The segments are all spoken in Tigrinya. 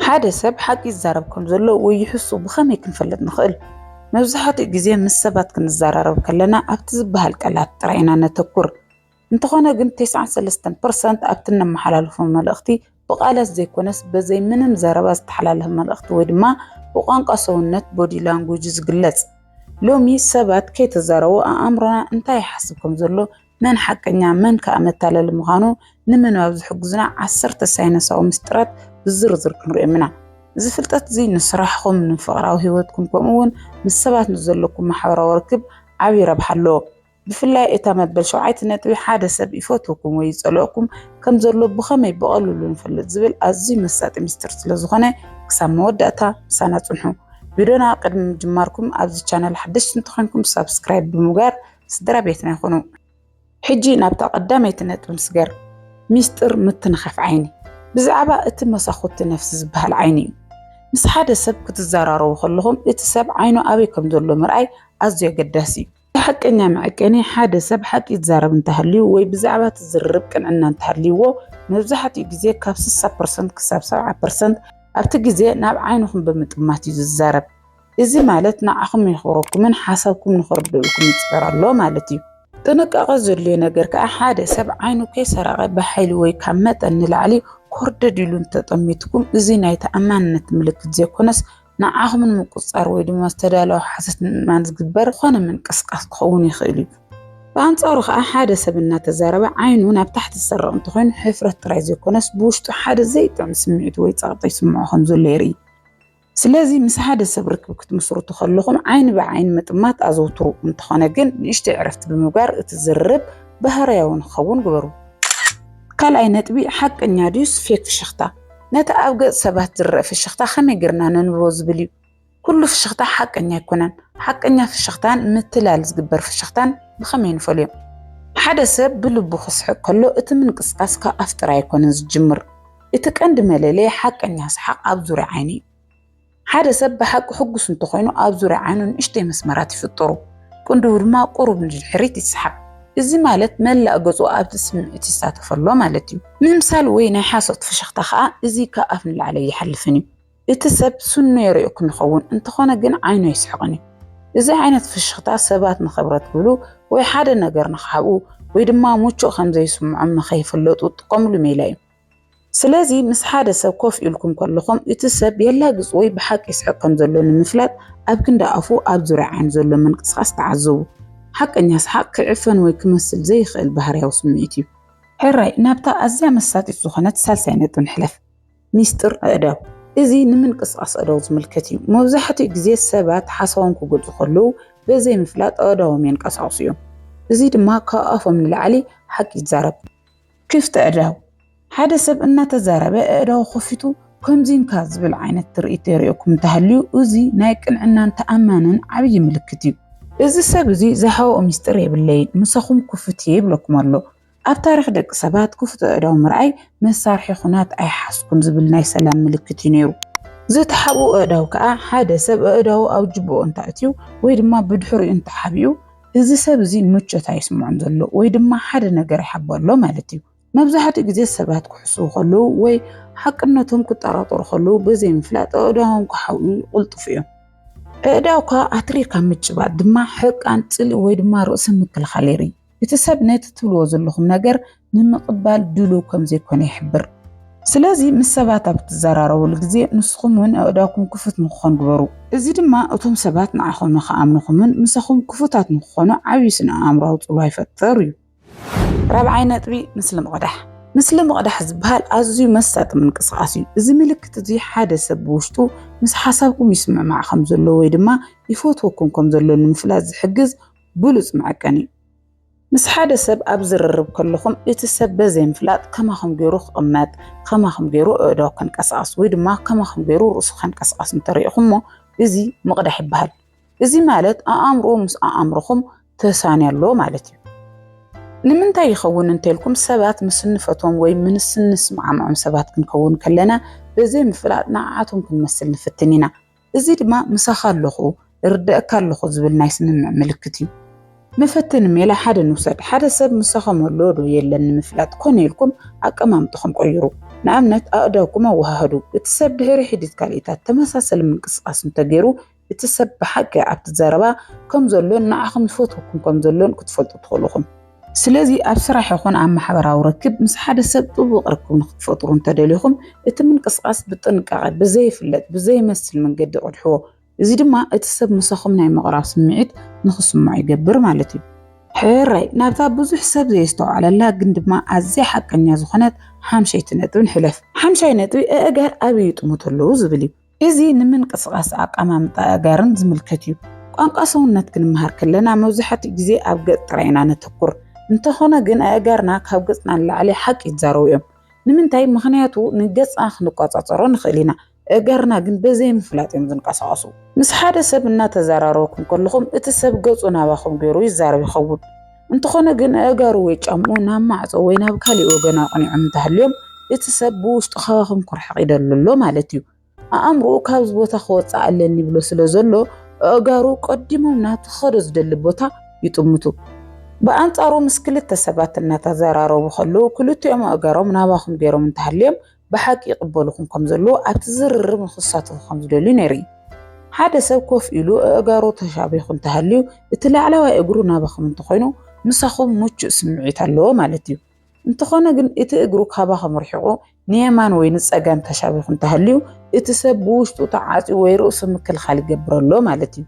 ሓደ ሰብ ሓቂ ይዛረብ ከም ዘሎ ወይ ይሕሱ ብኸመይ ክንፈልጥ ንኽእል? መብዛሕትኡ ግዜ ምስ ሰባት ክንዘራረብ ከለና ኣብቲ ዝበሃል ቃላት ጥራይ ኢና ነተኩር። እንተኾነ ግን ተስዓን ሰለስተን ፐርሰንት ኣብቲ እነመሓላልፎ መልእኽቲ ብቃላት ዘይኮነስ በዘይ ምንም ዘረባ ዝተሓላለፈ መልእኽቲ ወይ ድማ ብቋንቋ ሰውነት፣ Body Language፣ ዝግለጽ። ሎሚ ሰባት ከይተዛረቡ ኣኣምሮና እንታይ ይሓስብ ከም ዘሎ መን ሓቀኛ መን ከኣ መታለሊ ምዃኑ ንምንባብ ዝሕግዙና ዓሰርተ ሳይንሳዊ ምስጢራት ብዝርዝር ክንሪኦም ኢና። እዚ ፍልጠት እዚ ንስራሕኹም፣ ንፍቕራዊ ህይወትኩም ከምኡውን ምስ ሰባት ንዘለኩም ማሕበራዊ ርክብ ዓቢ ረብሓ ኣለዎ። ብፍላይ እታ መበል ሸውዓይቲ ነጥቢ ሓደ ሰብ ይፈትወኩም ወይ ይጸልኦኩም ከም ዘሎ ብኸመይ ብቐልሉ ንፈልጥ ዝብል ኣዝዩ መሳጢ ምስጢር ስለ ዝኾነ ክሳብ መወዳእታ ምሳና ጽንሑ። ቪድዮና ቅድሚ ምጅማርኩም ኣብዚ ቻነል ሓደሽቲ እንተኾይንኩም ሳብስክራይብ ብምግባር ስድራ ቤትና ይኹኑ። ሕጂ ናብታ ቀዳመይቲ ነጥቢ ንስገር፣ ሚስጢር ምትንኻፍ ዓይኒ። ብዛዕባ እቲ መሳኹቲ ነፍሲ ዝበሃል ዓይኒ እዩ። ምስ ሓደ ሰብ ክትዘራረቡ ከለኹም እቲ ሰብ ዓይኑ ኣበይ ከም ዘሎ ምርኣይ ኣዝዩ ኣገዳሲ እዩ። እቲ ሓቀኛ መዐቀኒ ሓደ ሰብ ሓቂ ይዛረብ እንተሃልዩ ወይ ብዛዕባ እቲ ዝርርብ ቅንዕና እንተሃልይዎ፣ መብዛሕትኡ ግዜ ካብ ስሳ ፐርሰንት ክሳብ ሰብዓ ፐርሰንት ኣብቲ ግዜ ናብ ዓይንኹም ብምጥማት እዩ ዝዛረብ። እዚ ማለት ንዓኹም የኽብረኩምን ሓሳብኩም ንኽርድኡልኩም ይፅዕር ኣሎ ማለት እዩ። ጥንቃቐ ዘድልዮ ነገር ከዓ ሓደ ሰብ ዓይኑ ከይሰረቐ ብሓይሊ ወይ ካብ መጠን ንላዕሊ ኮርደድ ኢሉ እንተጠሚትኩም እዚ ናይ ተኣማንነት ምልክት ዘይኮነስ ንዓኹም ንምቁፅፃር ወይ ድማ ዝተዳለወ ሓሶት ንምእማን ዝግበር ዝኾነ ምንቅስቃስ ክኸውን ይኽእል እዩ። ብኣንፃሩ ከዓ ሓደ ሰብ እናተዛረበ ዓይኑ ናብ ታሕቲ ዝሰርቕ እንተኾይኑ ሕፍረት ጥራይ ዘይኮነስ ብውሽጡ ሓደ ዘይጥዕም ስምዒት ወይ ፀቕጢ ይስምዖ ከምዘሎ የርኢ። ስለዚ ምስ ሓደ ሰብ ርክብ ክትምስርቱ ከለኹም ዓይኒ ብዓይኒ ምጥማት ኣዘውትሩ። እንተኾነ ግን ንእሽተይ ዕረፍቲ ብምግባር እቲ ዝርርብ ባህርያዊ ንክኸውን ግበሩ። ካልኣይ ነጥቢ፣ ሓቀኛ ድዩስ ፌክ ፍሽኽታ? ነቲ ኣብ ገጽ ሰባት ዝረኣ ፍሽኽታ ከመይ ጌርና ነንብቦ ዝብል እዩ። ኩሉ ፍሽኽታ ሓቀኛ ኣይኮነን። ሓቀኛ ፍሽኽታን ምትላል ዝግበር ፍሽኽታን ብኸመይ ንፈልዮም? ሓደ ሰብ ብልቡ ክስሕቕ ከሎ እቲ ምንቅስቓስ ካብ ኣፍ ጥራይ ኣይኮነን ዝጅምር። እቲ ቀንዲ መለለዪ ሓቀኛ ሰሓቕ ኣብ ዙርያ ዓይኒ እዩ። ሓደ ሰብ ብሓቂ ሕጉስ እንተኾይኑ ኣብ ዙርያ ዓይኑ ንእሽተይ መስመራት ይፍጠሩ፣ ቅንድቡ ድማ ቁሩብ ንድሕሪት ይሰሓብ። እዚ ማለት መላእ ገጹ ኣብቲ ስምዒት ይሳተፍ ኣሎ ማለት እዩ። ምምሳል ወይ ናይ ሓሶት ፍሽኽታ ከኣ እዚ ካብ ኣፍ ንላዕሊ ኣይሓልፍን እዩ። እቲ ሰብ ስኑ የርእየኩም ይኸውን፣ እንተኾነ ግን ዓይኑ ኣይስሕቕን እዩ። እዚ ዓይነት ፍሽኽታ ሰባት ንኽብረት ክብሉ ወይ ሓደ ነገር ንኽሓብኡ ወይ ድማ ምቹእ ከም ዘይስምዖም ንኸይፍለጡ ዝጥቀሙሉ ሜላ እዩ። ስለዚ ምስ ሓደ ሰብ ኮፍ ኢልኩም ከለኹም እቲ ሰብ የላግጽ ወይ ብሓቂ ይስሕቕ ከም ዘሎ ንምፍላጥ ኣብ ክንዲ ኣፉ ኣብ ዙርያ ዓይኑ ዘሎ ምንቅስቓስ ተዓዘቡ። ሓቀኛ ሰሓቕ ክዕፈን ወይ ክመስል ዘይኽእል ባህርያዊ ስምዒት እዩ። ሕራይ ናብታ ኣዝያ መሳጢት ዝኾነት ሳልሳይ ነጥቢ ንሕለፍ፣ ሚስጥር ኣእዳው። እዚ ንምንቅስቓስ ኣእዳው ዝምልከት እዩ። መብዛሕትኡ ግዜ ሰባት ሓሳቦም ክገልጹ ከለዉ በዘይምፍላጥ ኣእዳዎም የንቀሳቕሱ እዮም፣ እዚ ድማ ካብ ኣፎም ንላዕሊ ሓቂ ይዛረብ። ክፍቲ ኣእዳው ሓደ ሰብ እናተዛረበ ኣእዳው ከፊቱ ከምዚንካ ዝብል ዓይነት ትርኢት የርእየኩም እንተሃልዩ እዚ ናይ ቅንዕናን ተኣማንን ዓብዪ ምልክት እዩ። እዚ ሰብ እዚ ዝሃወኦ ምስጢር የብለይን ምሳኹም ክፉት እየ ይብለኩም ኣሎ። ኣብ ታሪኽ ደቂ ሰባት ክፉት ኣእዳው ምርኣይ መሳርሒ ኩናት ኣይሓዝኩን ዝብል ናይ ሰላም ምልክት እዩ ነይሩ። ዝተሓብኡ ኣእዳው ከኣ ሓደ ሰብ ኣእዳው ኣብ ጅብኡ እንተኣእትዩ ወይ ድማ ብድሕሪኡ እንተሓቢኡ እዚ ሰብ እዚ ምቾት ኣይስምዖን ዘሎ ወይ ድማ ሓደ ነገር ይሓቦ ኣሎ ማለት እዩ። መብዛሕትኡ ግዜ ሰባት ክሕስዉ ከለዉ ወይ ሓቅነቶም ክጠራጠሩ ከለዉ ብዘይምፍላጥ ኣእዳዎም ክሓውዩ ይቕልጥፉ እዮም። ኣእዳውካ ኣትሪርካ ምጭባጥ ድማ ሕርቃን፣ ጽልኢ ወይ ድማ ርእሰ ምክልኻል የርኢ። እቲ ሰብ ነቲ ትብልዎ ዘለኹም ነገር ንምቕባል ድሉው ከም ዘይኮነ ይሕብር። ስለዚ ምስ ሰባት ኣብ እትዘራረቡሉ ግዜ ንስኹም እውን ኣእዳውኩም ክፉት ንክኾን ግበሩ። እዚ ድማ እቶም ሰባት ንዓኹም ንክኣምኑኹምን ምሳኹም ክፉታት ንክኾኑ ዓብዪ ስነ-ኣእምሮኣዊ ጽልዋ ይፈጥር እዩ። ራብዓይ ነጥቢ፣ ምስሊ ምቕዳሕ። ምስሊ ምቕዳሕ ዝበሃል ኣዝዩ መሳጢ ምንቅስቓስ እዩ። እዚ ምልክት እዚ ሓደ ሰብ ብውሽጡ ምስ ሓሳብኩም ይስምዕማዕ ከም ዘሎ ወይ ድማ ይፈትወኩም ከም ዘሎ ንምፍላጥ ዝሕግዝ ብሉጽ መዐቀኒ እዩ። ምስ ሓደ ሰብ ኣብ ዝርርብ ከለኹም እቲ ሰብ በዘይምፍላጥ ከማኹም ገይሩ ክቕመጥ፣ ከማኹም ገይሩ ኣእዳው ከንቀሳቕስ ወይ ድማ ከማኹም ገይሩ ርእሱ ከንቀሳቕስ እንተሪእኹሞ እዚ ምቕዳሕ ይበሃል። እዚ ማለት ኣኣምርኡ ምስ ኣኣምሮኹም ተሳንዮ ኣሎ ማለት እዩ። ንምንታይ ይኸውን እንተልኩም ሰባት ምስ እንፈትዎም ወይ ምስ እንስማዕምዖም ሰባት ክንከውን ከለና በዘይምፍላጥ ንዓዓቶም ክንመስል ንፍትን ኢና። እዚ ድማ ምሳኻ ኣለኹ፣ እርደእካ ኣለኹ ዝብል ናይ ስምምዕ ምልክት እዩ። መፈተኒ ሜላ ሓደ ንውሰድ። ሓደ ሰብ ምሳኹም ኣሎ ዶ የለን ንምፍላጥ ኮነ ኢልኩም ኣቀማምጥኹም ቀይሩ። ንኣብነት ኣእዳውኩም ኣወሃህዱ። እቲ ሰብ ድሕሪ ሒዲት ካልኢታት ተመሳሰሊ ምንቅስቓስ እንተገይሩ እቲ ሰብ ብሓቂ ኣብቲ ዘረባ ከም ዘሎን ንዓኹም ይፈትወኩም ከም ዘሎን ክትፈልጡ ትኽእሉ ኢኹም። ስለዚ ኣብ ስራሕ ይኹን ኣብ ማሕበራዊ ርክብ ምስ ሓደ ሰብ ጥቡቕ ርክብ ንኽትፈጥሩ እንተደሊኹም እቲ ምንቅስቓስ ብጥንቃቐ ብዘይፍለጥ ብዘይመስል መንገዲ ቅድሕዎ። እዚ ድማ እቲ ሰብ ምሳኹም ናይ ምቕራብ ስምዒት ንኽስምዖ ይገብር ማለት እዩ። ሕራይ ናብታ ብዙሕ ሰብ ዘየስተውዓለላ ግን ድማ ኣዝያ ሓቀኛ ዝኾነት ሓምሸይቲ ነጥቢ ንሕለፍ። ሓምሻይ ነጥቢ ኣእጋር ኣበይ ይጥምቱ ኣለዉ ዝብል እዩ። እዚ ንምንቅስቓስ ኣቀማምጣ ኣእጋርን ዝምልከት እዩ። ቋንቋ ሰውነት ክንመሃር ከለና መብዛሕትኡ ግዜ ኣብ ገጽ ጥራይ ኢና ነተኩር። እንተኾነ ግን ኣእጋርና ካብ ገጽና ንላዕሊ ሓቂ ይዛረቡ እዮም። ንምንታይ? ምኽንያቱ ንገጽና ክንቆጻጸሮ ንኽእል ኢና፣ ኣእጋርና ግን በዘይምፍላጥ እዮም ዝንቀሳቐሱ። ምስ ሓደ ሰብ እናተዘራረብኩም ከለኹም እቲ ሰብ ገጹ ናባኹም ገይሩ ይዛረብ ይኸውን። እንተኾነ ግን ኣእጋሩ ወይ ጫምኡ ናብ ማዕጾ ወይ ናብ ካልእ ወገን ኣቕኒዖም እንተሃልዮም እቲ ሰብ ብውሽጡ ካባኹም ኩርሕቕ ይደሉ ኣሎ ማለት እዩ። ኣእምሮኡ ካብዚ ቦታ ክወጽእ ኣለኒ ይብሎ ስለ ዘሎ ኣእጋሩ ቀዲሞም ናብቲ ክኸዶ ዝደሊ ቦታ ይጥምቱ። ብኣንጻሩ ምስ ክልተ ሰባት እናተዘራረቡ ከለዉ ክልቲኦም ኣእጋሮም ናባኹም ገይሮም እንተሃልዮም ብሓቂ ይቕበሉኹም ከም ዘለዉ ኣብቲ ዝርርብ ንኽሳተፉ ከም ዝደልዩ ነይሩ። ሓደ ሰብ ኮፍ ኢሉ ኣእጋሩ ተሻቢኹ እንተሃልዩ፣ እቲ ላዕለዋይ እግሩ ናባኹም እንተኾይኑ ምሳኹም ምቹእ ስምዒት ኣለዎ ማለት እዩ። እንተኾነ ግን እቲ እግሩ ካባኹም ርሒቑ ንየማን ወይ ንጸጋም ተሻቢኹ እንተሃልዩ፣ እቲ ሰብ ብውሽጡ ተዓጽዩ ወይ ርእሱ ምክልኻል ይገብር ኣሎ ማለት እዩ።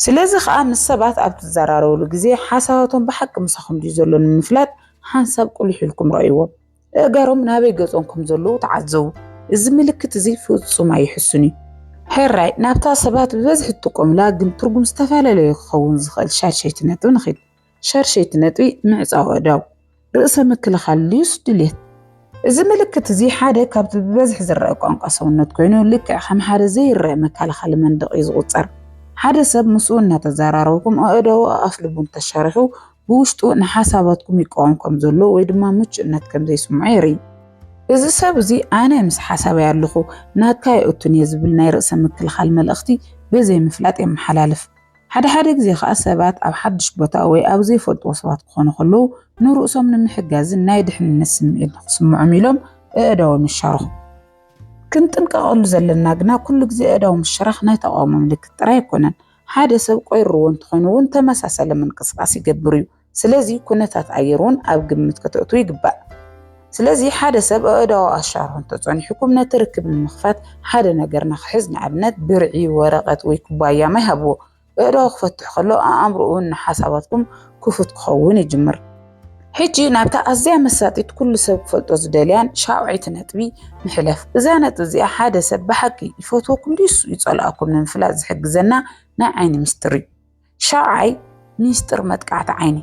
ስለዚ ኸኣ ምስ ሰባት ኣብ ትዘራረቡሉ ግዜ ሓሳባቶም ብሓቂ ምሳኹም ድዩ ዘሎ ንምፍላጥ ሓንሳብ ቁሊሕ ኢልኩም ርኣይዎም። እእጋሮም ናበይ ገጾም ከም ዘለዉ ተዓዘቡ። እዚ ምልክት እዚ ፍጹም ኣይሕሱን እዩ። ሕራይ ናብታ ሰባት ብበዝሒ ትጥቀሙላ ግን ትርጉም ዝተፈላለየ ክኸውን ዝኽእል ሻድሸይቲ ነጥቢ ንኺድ። ሻድሸይቲ ነጥቢ ምዕጻው ኣእዳው፣ ርእሰ ምክልኻል ልዩስ ድሌት። እዚ ምልክት እዚ ሓደ ካብቲ ብበዝሒ ዝረኣ ቋንቋ ሰውነት ኮይኑ ልክዕ ከም ሓደ ዘይረኣ መከላኸሊ መንደቕ እዩ ዝቑጸር። ሓደ ሰብ ምስኡ እናተዘራረብኩም ኣእዳዉ ኣኣፍልቡ እንተሻርሑ ብውሽጡ ንሓሳባትኩም ይቃወም ከም ዘሎ ወይ ድማ ምቹእነት ከም ዘይስምዖ የርኢ። እዚ ሰብ እዚ ኣነ ምስ ሓሳበይ ኣለኹ ናትካ ኣይእቱን እየ ዝብል ናይ ርእሰ ምክልኻል መልእኽቲ ብዘይ ምፍላጥ የመሓላልፍ። ሓደ ሓደ ግዜ ከኣ ሰባት ኣብ ሓድሽ ቦታ ወይ ኣብ ዘይፈልጥዎ ሰባት ክኾኑ ከለዉ ንርእሶም ንምሕጋዝን ናይ ድሕንነት ስምዒት ንኽስምዖም ኢሎም ኣእዳዎም ይሻርኹ። ክንጥንቀቐሉ ዘለና ግና ኩሉ ግዜ ኣእዳው ምሽራኽ ናይ ተቓውሞ ምልክት ጥራይ ኣይኮነን። ሓደ ሰብ ቆይርዎ እንተኾይኑ እውን ተመሳሳሊ ምንቅስቃስ ይገብር እዩ። ስለዚ ኩነታት ኣየር እውን ኣብ ግምት ከተእትዉ ይግባእ። ስለዚ ሓደ ሰብ ኣእዳዉ ኣሻርሑ እንተጸኒሑኩም ነቲ ርክብ ንምኽፋት ሓደ ነገር ንኽሕዝ ንኣብነት ብርዒ፣ ወረቐት ወይ ኩባያ ማይ ሃብዎ። ኣእዳዉ ክፈትሕ ከሎ ኣእምሮኡ ንሓሳባትኩም ክፉት ክኸውን ይጅምር። ሕጂ ናብታ ኣዝያ መሳጢት ኩሉ ሰብ ክፈልጦ ዝደልያን ሻውዐይቲ ነጥቢ ንሕለፍ። እዛ ነጥቢ እዚኣ ሓደ ሰብ ብሓቂ ይፈትወኩም ድዩስ ይጸልኣኩም ንምፍላጥ ዝሕግዘና ናይ ዓይኒ ምስጢር እዩ። ሻውዓይ ሚስጥር መጥቃዕቲ ዓይኒ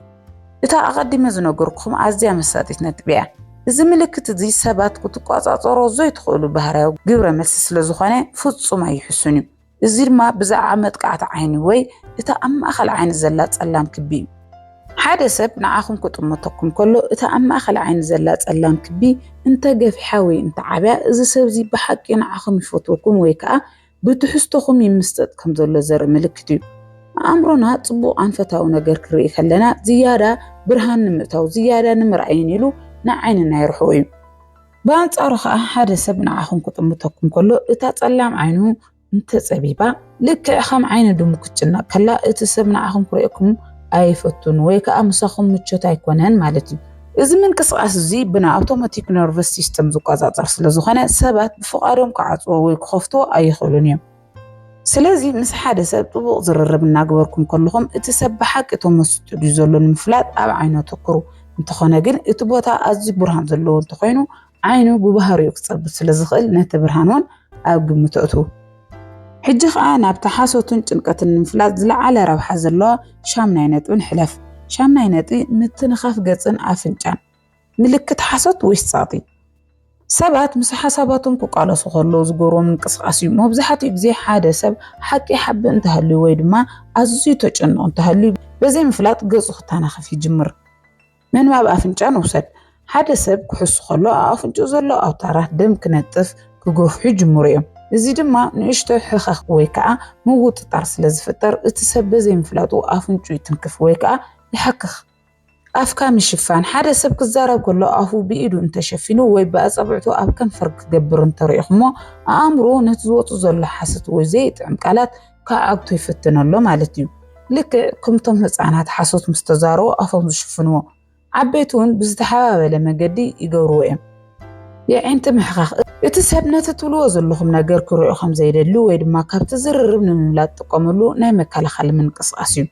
እታ ኣቐዲመ ዝነገርኩም ኣዝያ መሳጢት ነጥቢ እያ። እዚ ምልክት እዚ ሰባት ክትቆጻጸሮ ዘይትኽእሉ ባህርያዊ ግብረ መልሲ ስለ ዝኾነ ፍጹም ኣይሕሱን እዩ። እዚ ድማ ብዛዕባ መጥቃዕቲ ዓይኒ ወይ እቲ ኣብ ማእከል ዓይኒ ዘላ ጸላም ክቢ እዩ። ሓደ ሰብ ንዓኹም ክጥምተኩም ከሎ እቲ ኣብ ማእከል ዓይኒ ዘላ ጸላም ክቢ እንተ ገፊሓ ወይ እንተ ዓብያ እዚ ሰብ እዚ ብሓቂ ንዓኹም ይፈትወኩም ወይ ከኣ ብትሕዝቶኹም ይምስጠጥ ከም ዘሎ ዘርኢ ምልክት እዩ። ኣእምሮና ጽቡቕ ኣንፈታዊ ነገር ክርኢ ከለና ዝያዳ ብርሃን ንምእታው ዝያዳ ንምርኣይን ኢሉ ንዓይንና የርሕቆ እዩ። ብኣንጻሩ ኸኣ ሓደ ሰብ ንዓኹም ክጥምተኩም ከሎ እታ ጸላም ዓይኑ እንተጸቢባ ልክዕ ከም ዓይኒ ድሙ ክትጭነቕ ከላ እቲ ሰብ ንዓኹም ክርእየኩም ኣይፈቱን ወይ ከኣ ምሳኹም ምቾት ኣይኮነን ማለት እዩ። እዚ ምንቅስቓስ እዚ ብናይ ኣውቶማቲክ ነርቨስ ሲስተም ዝቆጻጸር ስለ ዝኾነ ሰባት ብፍቓዶም ክዓጽዎ ወይ ክኸፍትዎ ኣይኽእሉን እዮም። ስለዚ ምስ ሓደ ሰብ ጥቡቕ ዝርርብ እናግበርኩም ከለኹም እቲ ሰብ ብሓቂ ተመስጡ ድዩ ዘሎ ንምፍላጥ ኣብ ዓይኑ ኣተኩሩ። እንተኾነ ግን እቲ ቦታ ኣዝዩ ብርሃን ዘለዎ እንተኾይኑ ዓይኑ ብባህሪኡ ክጸብብ ስለ ዝኽእል ነቲ ብርሃን እውን ኣብ ግምት ኣእትዉ። ሕጂ ኸኣ ናብቲ ሓሶትን ጭንቀትን ንምፍላጥ ዝለዓለ ረብሓ ዘለዎ ሻምናይ ነጥቢ ንሕለፍ። ሻምናይ ነጥቢ ምትንኻፍ ገጽን ኣፍንጫን። ምልክት ሓሶት ወይስ ጸቕጢ? ሰባት ምስ ሓሳባቶም ክቃለሱ ከለዉ ዝገብርዎ ምንቅስቓስ እዩ። መብዛሕትኡ ግዜ ሓደ ሰብ ሓቂ ይሓብእ እንተሃልዩ ወይ ድማ ኣዝዩ ተጨንቑ እንተሃልዩ ብዘይምፍላጥ ገጹ ክተናኸፍ ይጅምር። ምንባብ ኣፍንጫ ንውሰድ። ሓደ ሰብ ክሕሱ ከሎ ኣብ ኣፍንጭኡ ዘሎ ኣውታራት ደም ክነጥፍ፣ ክገፍሑ፣ ይጅምሩ እዮም። እዚ ድማ ንእሽቶ ሕኸኽ ወይ ከኣ ምውጥጣር ስለ ዝፍጠር እቲ ሰብ በዘይምፍላጡ ኣፍንጭኡ ይትንክፍ ወይ ከኣ ይሓክኽ። ኣፍካ ምሽፋን፣ ሓደ ሰብ ክዛረብ ከሎ ኣፉ ብኢዱ እንተሸፊኑ ወይ ብኣጻብዕቱ ኣብ ከንፈር ክገብር እንተሪኢኹሞ፣ ኣእምሮኡ ነቲ ዝወጹ ዘሎ ሓሶት ወይ ዘይጥዕም ቃላት ክዓግቶ ይፍትን ኣሎ ማለት እዩ። ልክዕ ከምቶም ህጻናት ሓሶት ምስ ተዛረቡ ኣፎም ዝሽፍንዎ፣ ዓበይቲ'ውን ብዝተሓባበለ መገዲ ይገብርዎ እዮም። የዒንቲ ምሕካኽ፣ እቲ ሰብ ነቲ ትብልዎ ዘለኹም ነገር ክሪኦ ከም ዘይደሊ ወይ ድማ ካብቲ ዝርርብ ንምምላጥ ዝጥቀመሉ ናይ መከላኸሊ ምንቅስቓስ እዩ።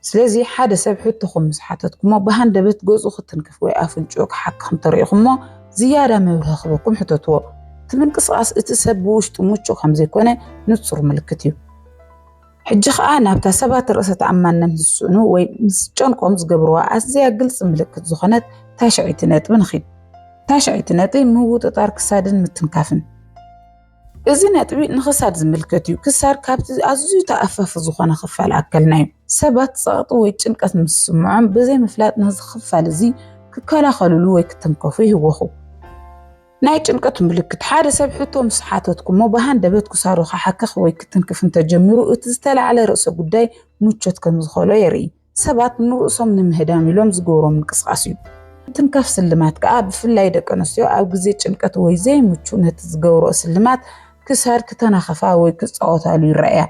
ስለዚ ሓደ ሰብ ሕቶኹም ምስ ሓተትኩሞ ብሃንደበት ገጹ ክትንክፍ ወይ ኣፍንጭኡ ክሓክኽ እንተሪኢኹሞ ዝያዳ መብርሂ ክህበኩም ሕተትዎ። እቲ ምንቅስቓስ እቲ ሰብ ብውሽጡ ምቹእ ከም ዘይኮነ ንጹር ምልክት እዩ። ሕጂ ከኣ ናብታ ሰባት ርእሰ ተኣማንነት ዝስእኑ ወይ ምስ ዝጨንቆም ዝገብርዋ ኣዝያ ግልጺ ምልክት ዝኾነት ታሽዐይቲ ነጥቢ ንኺድ። ታሽዐይቲ ነጥቢ ምውጥጣር ክሳድን ምትንካፍን። እዚ ነጥቢ ንክሳድ ዝምልከት እዩ። ክሳድ ካብቲ ኣዝዩ ተኣፋፊ ዝኾነ ክፋል ኣከልና እዩ። ሰባት ጸቕጢ ወይ ጭንቀት ምስ ዝስምዖም ብዘይ ምፍላጥ ነዚ ክፋል እዚ ክከላኸልሉ ወይ ክትንከፉ ይህወኹ። ናይ ጭንቀት ምልክት ሓደ ሰብ ሕቶ ምስ ሓተትኩሞ ብሃንደበት ክሳዱ ክሓክኽ ወይ ክትንክፍ እንተጀሚሩ እቲ ዝተላዕለ ርእሰ ጉዳይ ምቾት ከም ዝኸሎ የርኢ። ሰባት ንርእሶም ንምህዳም ኢሎም ዝገብሮ ምንቅስቓስ እዩ። ምትንካፍ ስልማት ከኣ ብፍላይ ደቂ ኣንስትዮ ኣብ ግዜ ጭንቀት ወይ ዘይምቹእ ነቲ ዝገብርኦ ስልማት ክሳድ ክተናኽፋ ወይ ክጻወታሉ ይረኣያ።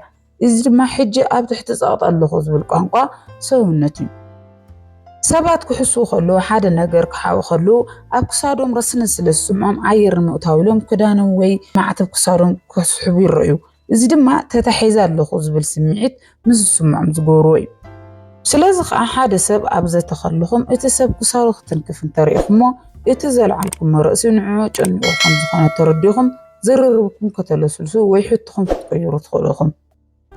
እዚ ድማ ሕጂ ኣብ ትሕቲ ጸቕጢ ኣለኹ ዝብል ቋንቋ ሰውነት እዩ። ሰባት ክሕስዉ ከለዉ፣ ሓደ ነገር ክሓብኡ ከለዉ ኣብ ክሳዶም ረስኒ ስለ ዝስምዖም ኣየር ንምእታው ኢሎም ክዳኖም ወይ ማዕተብ ክሳዶም ክስሕቡ ይረኣዩ። እዚ ድማ ተታሒዘ ኣለኹ ዝብል ስምዒት ምስ ዝስምዖም ዝገብርዎ እዩ። ስለዚ ከኣ ሓደ ሰብ ኣብ ዘተ ከለኹም እቲ ሰብ ክሳዱ ክትንክፍ እንተርኢኹሞ እቲ ዘልዓልኩሞ ርእሲ ንዕኡ ኣጨኒቑ ከም ዝኾነ ተረዲኹም ዝርርብኩም ከተለስልሱ ወይ ሕቶኹም ክትቅይሩ ትኽእሉ ኢኹም።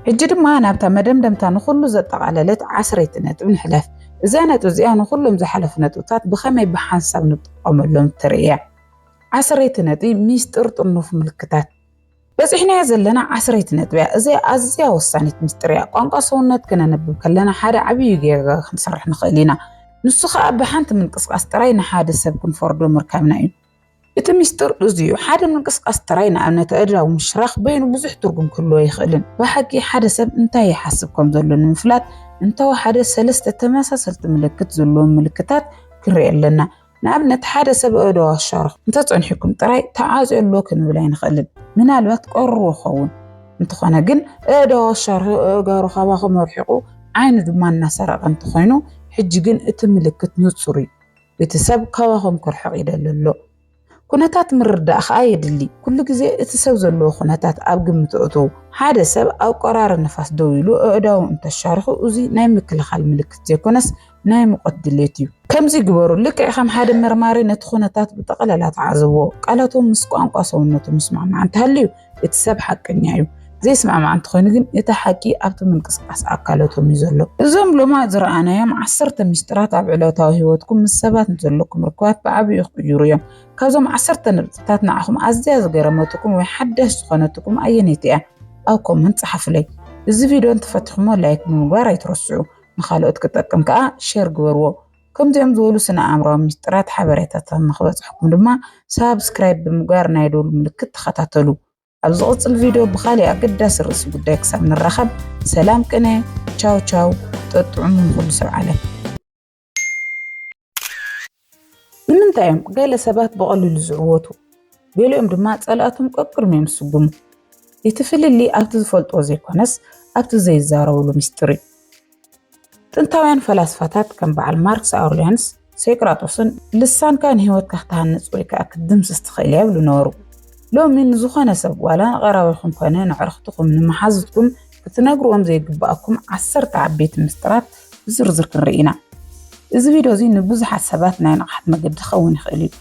ሕጂ ድማ ናብታ መደምደምታ ንኹሉ ዘጠቓለለት ዓስረይቲ ነጥብ ንሕለፍ። እዛ ነጥቢ እዚኣ ንኹሎም ዝሓለፉ ነጥብታት ብኸመይ ብሓንሳብ ንጥቀመሎም እትርኢ እያ። ዓስረይቲ ነጥቢ፣ ሚስጥር ጥርኑፍ ምልክታት። በጺሕናያ ዘለና ዓስረይቲ ነጥቢያ እዚ ኣዝያ ወሳኒት ምስጢር እያ። ቋንቋ ሰውነት ከነንብብ ከለና ሓደ ዓብዪ ጌጋ ክንሰርሕ ንኽእል ኢና። ንሱ ከኣ ብሓንቲ ምንቅስቓስ ጥራይ ንሓደ ሰብ ክንፈርዶ ምርካብና እዩ። እቲ ምስጢር እዚ እዩ፣ ሓደ ምንቅስቓስ ጥራይ፣ ንኣብነት ኣእዳው ምሽራኽ፣ በይኑ ብዙሕ ትርጉም ክህልዎ ኣይኽእልን። ብሓቂ ሓደ ሰብ እንታይ ይሓስብ ከም ዘሎ ንምፍላጥ እንተወሓደ ሰለስተ ተመሳሰልቲ ምልክት ዘለዎም ምልክታት ክንርኢ ኣለና። ንኣብነት ሓደ ሰብ እዶ ኣሻርኹ እንተጸኒሕኩም ጥራይ ተዓጽዮ ኣሎ ክንብል ኣይንኽእልን። ምናልባት ቀርዎ ኸውን እንተኾነ ግን እዶ ኣሻርኹ እእጋሩ ካባኹም ኣርሒቑ ዓይኑ ድማ እናሰረቐ እንተኾይኑ ሕጂ ግን እቲ ምልክት ንጹር እዩ። እቲ ሰብ ካባኹም ክርሕቕ ይደሊ ኣሎ። ኩነታት ምርዳእ ኸኣ የድሊ። ኩሉ ግዜ እቲ ሰብ ዘለዎ ኩነታት ኣብ ግምት እእትዉ። ሓደ ሰብ ኣብ ቆራሪ ንፋስ ደው ኢሉ ኣእዳዉ እንተሻርኹ እዚ ናይ ምክልኻል ምልክት ዘይኮነስ ናይ ሙቐት ድሌት እዩ። ከምዚ ግበሩ፣ ልክዕ ከም ሓደ መርማሪ ነቲ ኩነታት ብጠቐለላ ተዓዘብዎ። ቃላቶም ምስ ቋንቋ ሰውነቶም ዝስማዕማዕ እንተሃልዩ እቲ ሰብ ሓቀኛ እዩ። ዘይስማዕማዕ እንተኾይኑ ግን እቲ ሓቂ ኣብቲ ምንቅስቓስ ኣካለቶም እዩ ዘሎ። እዞም ሎማት ዝረኣናዮም ዓሰርተ ሚስጥራት ኣብ ዕለታዊ ህይወትኩም ምስ ሰባት ንዘለኩም ርክባት ብዓቢኡ ክቕይሩ እዮም። ካብዞም ዓሰርተ ነጥብታት ንዓኹም ኣዝያ ዝገረመትኩም ወይ ሓዳሽ ዝኾነትኩም ኣየነይቲ እያ? ኣብ ኮመንት ጸሓፉለይ። እዚ ቪድዮ እንተፈቲኹምዎ ላይክ ብምግባር ኣይትረስዑ። ንኻልኦት ክጠቅም ከዓ ሸር ግበርዎ። ከምዚኦም ዝበሉ ስነ ኣእምራዊ ምስጢራት ሓበሬታታት ንክበፅሐኩም ድማ ሳብስክራይብ ብምግባር ናይ ደወል ምልክት ተኸታተሉ። ኣብ ዝቕፅል ቪድዮ ብካሊእ ኣገዳሲ ርእሲ ጉዳይ ክሳብ ንራኸብ ሰላም ቅነ ቻው ቻው ጠጥዑሙ ንኹሉ ሰብ ዓለም። ንምንታይ እዮም ገለ ሰባት ብቐሊሉ ዝዕወቱ ገሊኦም ድማ ጸላእቶም ቀቅድም እዮም ዝስጉሙ? እቲ ፍልሊ ኣብቲ ዝፈልጥዎ ዘይኮነስ ኣብቲ ዘይዛረብሉ ምስጢር እዩ። ጥንታውያን ፈላስፋታት ከም በዓል ማርክስ ኣውርሊያንስ ሴቅራጦስን ልሳንካ ንህይወትካ ክትሃንጽ ወይ ከዓ ክትድምስስ ትኽእል እያ ይብሉ ነበሩ። ሎሚ ንዝኾነ ሰብ ዋላ ንቐራቢኹም ኮነ ንዕርኽትኹም ንመሓዙትኩም ክትነግርዎም ዘይግብኣኩም ዓሰርተ ዓበይቲ ምስጢራት ብዝርዝር ክንርኢ ኢና። እዚ ቪድዮ እዚ ንብዙሓት ሰባት ናይ ንቕሓት መገዲ ክኸውን ይኽእል እዩ።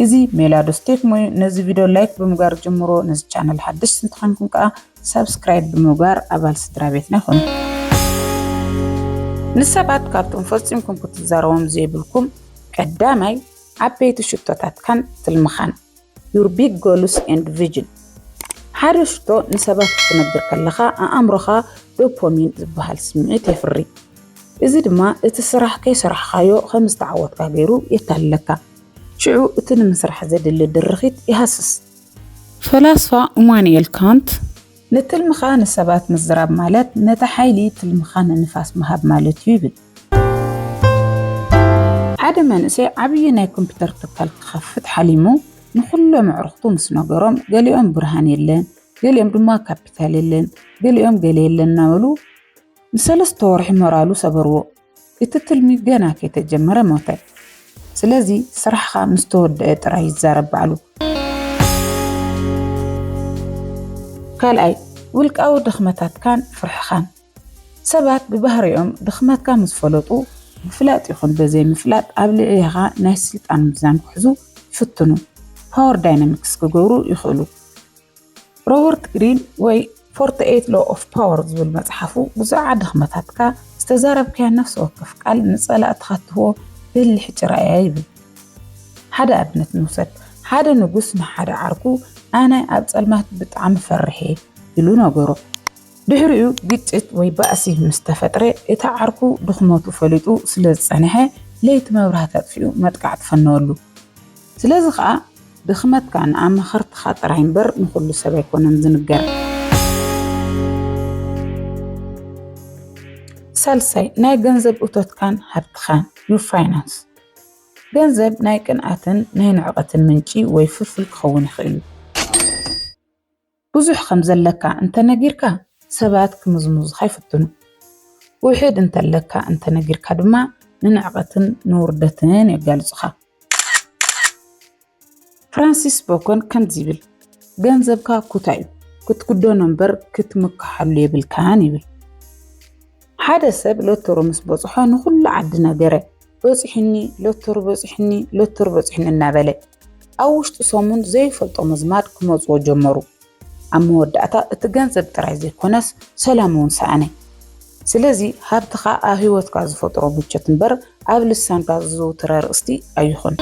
እዚ ሜላዶ ስቴክ ሞዩ ነዚ ቪድዮ ላይክ ብምግባር ጀምሮ ነዚ ቻነል ሓደሽቲ እንተኾንኩም ከዓ ሰብስክራይብ ብምግባር ኣባል ስድራ ቤትና ይኹኑ። ንሰባት ካብቶም ፈፂምኩም ክትዛረቦም ዘይብልኩም ቀዳማይ ዓበይቲ ሽቶታትካን ትልምኻን Your Big Goals and Vision ሓደ ሽቶ ንሰባት ክትነግር ከለኻ ኣእምሮኻ ዶፖሚን ዝበሃል ስምዒት የፍሪ። እዚ ድማ እቲ ስራሕ ከይሰራሕካዮ ከም ዝተዓወትካ ገይሩ የታልለካ። ሽዑ እቲ ንምስራሕ ዘድሊ ድርኺት ይሃስስ። ፈላስፋ እማኑኤል ካንት ንትልምኻ ንሰባት ምዝራብ ማለት ነቲ ሓይሊ ትልምኻ ንንፋስ ምሃብ ማለት'ዩ ይብል። ሓደ መንእሰይ ዓብዪ ናይ ኮምፒዩተር ትካል ክኸፍት ሓሊሙ ንኹሎም ኣዕሩኽቱ ምስ ነገሮም ገሊኦም ብርሃን የለን፣ ገሊኦም ድማ ካፒታል የለን፣ ገሊኦም ገለ የለን እናበሉ ንሰለስተ ወርሒ ሞራሉ ሰበርዎ። እቲ ትልሚ ገና ከይተጀመረ ሞተ። ስለዚ ስራሕኻ ምስ ተወደአ ጥራይ ይዛረብ ባዕሉ። ካልኣይ፣ ውልቃዊ ድኽመታትካን ፍርሕኻን። ሰባት ብባህሪኦም ድኽመትካ ምስ ፈለጡ ብፍላጥ ይኹን በዘይምፍላጥ ኣብ ልዕሌኻ ናይ ስልጣን ሚዛን ክሕዙ ይፍትኑ፣ ፓወር ዳይናሚክስ ክገብሩ ይኽእሉ። ሮበርት ግሪን ወይ ፎርቲ ኤይት ሎ ኦፍ ፓወር ዝብል መጽሓፉ ብዙዓ ድኽመታትካ ዝተዛረብካያ ነፍሲ ወከፍ ቃል ንጸላእትኻ እትህቦ በሊሕ ጭራ እያ ይብል። ሓደ ኣብነት ንውሰድ። ሓደ ንጉስ ንሓደ ዓርኩ ኣነ ኣብ ጸልማት ብጣዕሚ ፈርሕ እየ ኢሉ ነገሮ። ድሕሪኡ ግጭት ወይ ባእሲ ምስ ተፈጥረ፣ እቲ ዓርኩ ድኽመቱ ፈሊጡ ስለ ዝጸንሐ፣ ለይቲ መብራህቲ ኣጥፊኡ መጥቃዕቲ ፈነወሉ። ስለዚ ኸኣ ድኽመትካ ንኣማኸርትኻ ጥራይ እምበር ንኹሉ ሰብ ኣይኮነን ዝንገር። ሳልሳይ፣ ናይ ገንዘብ እቶትካን ሃብትኻን፣ Your Finance፣ ገንዘብ ናይ ቅንኣትን ናይ ንዕቀትን ምንጪ ወይ ፍልፍል ክኸውን ይኽእል እዩ። ብዙሕ ከም ዘለካ እንተ ነጊርካ ሰባት ክምዝምዙኻ ይፍትኑ። ውሕድ እንተለካ እንተ ነጊርካ ድማ ንንዕቀትን ንውርደትን የጋልጹኻ። ፍራንሲስ ቦኮን ከምዚ ይብል፣ ገንዘብካ ኩታ እዩ፣ ክትክደኖ እምበር ክትምክሓሉ የብልካን ይብል። ሓደ ሰብ ሎቶሮ ምስ በጽሖ ንኹሉ ዓዲ ነገረ። በፂሑኒ ሎቶር በፂሑኒ ሎቶር በፂሑኒ እናበለ ኣብ ውሽጢ ሰሙን ዘይፈልጦ ምዝማድ ክመፅዎ ጀመሩ። ኣብ መወዳእታ እቲ ገንዘብ ጥራይ ዘይኮነስ ሰላም እውን ሰኣነ። ስለዚ ሃብትኻ ኣብ ህይወትካ ዝፈጥሮ ምቾት እምበር ኣብ ልሳንካ ዝዝውትር ኣርእስቲ ኣይኹን።